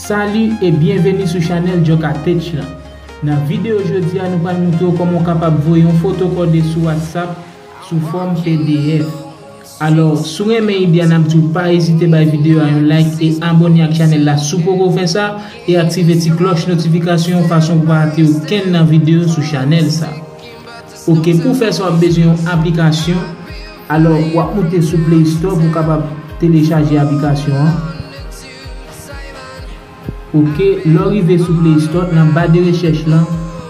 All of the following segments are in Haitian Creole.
Salut et bienvenue sou chanèl Joka Tech lan. Nan videyo jodi a nou pral moutre w kòman w kapab voye yon foto kòde sou WhatsApp sou fòm pdf. Alò, si w renmen ide a n ap di w pa ezite bay videyo a yon like e abòne ak chanèl la si w poko fè sa e aktive ti klòch notifikasyon fason pou w pa rate okenn nan videyo sou chanèl sa. Ok pou w fè sa wap bezwen yon aplikasyon alò wap moute sou play store pou w kapab telechaje aplikasyon an ok lè w rive sou play store nan ba de rechèch lan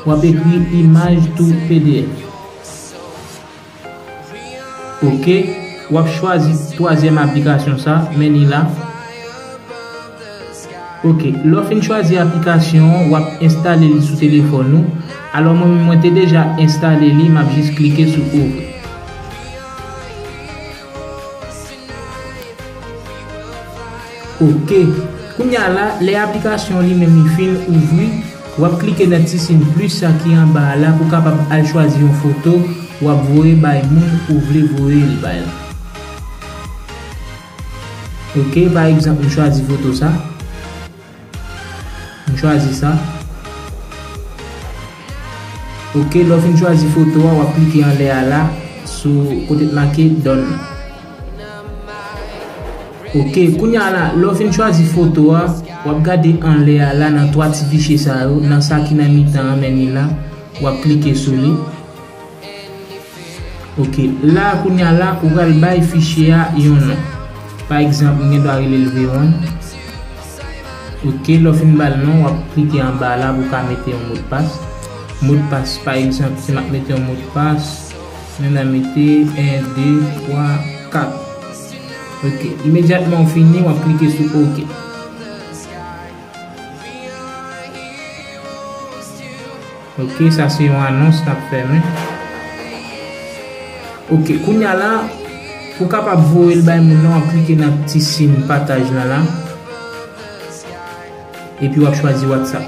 wap ekri imaj to pdf ok wap chwazi twazyèm aplikasyon sa men li la. Ok, lè w fin chwazi aplikasyon an, w ap enstale li sou telefòn ou, alò mwen menm mwen te deja enstale li, m ap jis klike sou ouvri. Ok, kounya la, lè aplikasyon an li menm li fin ouvri, w ap klike nan ti sin plis sa ki anba a la pou w kapab al chwazi yon foto w ap voye bay moun ou vle voye l bay la. Ok pa egzanp m chwazi foto sa. M chwazi sa. Ok lè w fin chwazi foto a w ap klike anlè a la sou kote ki make done nan. Ok kounye a la lè w fin chwazi foto a w ap gade anlè a la nan 3 ti fichye sa yo nan sa ki nan mitan an mènye la w ap klike sou li. Ok la kounya la ou pral bay fichye a yon non pa egzanp m gen dwa rele l v-one ok lè w fin ba l non w ap klike anba la pou w ka mete yon modpas modpas pa egzanp si m ap mete yon modpas men nan mete 1 2 3 4 ok imedyatman w fini w ap klike sou ok. Ok sa se yon anons kap fè men. Ok kounya la ou kapab voyel bay moun nan wap klike nan ti sin pataj lan la epi wap chwazi whatsapp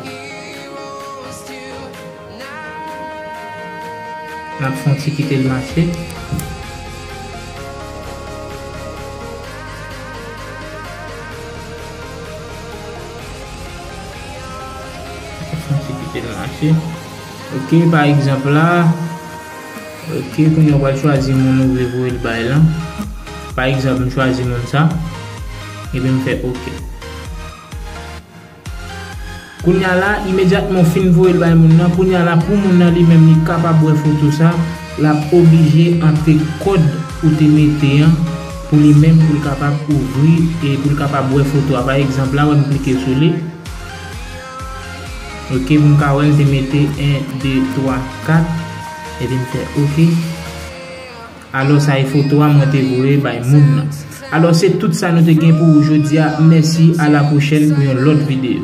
nap fon ti kitel mache. Mwen kite l mache. Ok, pa egzanp la. Ok, kounye ou pral chwazi moun ou vle voye l bay lan. Pa egzanp, m chwazi moun sa. Epi m fè ok. Kounye a la, imedyatman ou fin voye l bay moun nan, kounye a la pou moun nan li menm li kapab wè foto sa, l ap oblije antre kòd ou te mete an pou li menm pou l kapab ouvri e pou l kapab wè foto a. Pa egzanp la, wè m klike sou li. Ok pou m ka wè m te mete 1 2 3 4 epi m fè ok alò sa e foto a mwen te voye bay moun nan alò se tout sa nou te gen pou ou jodi a mèsi a la pwochèn pou yon lòt videyo.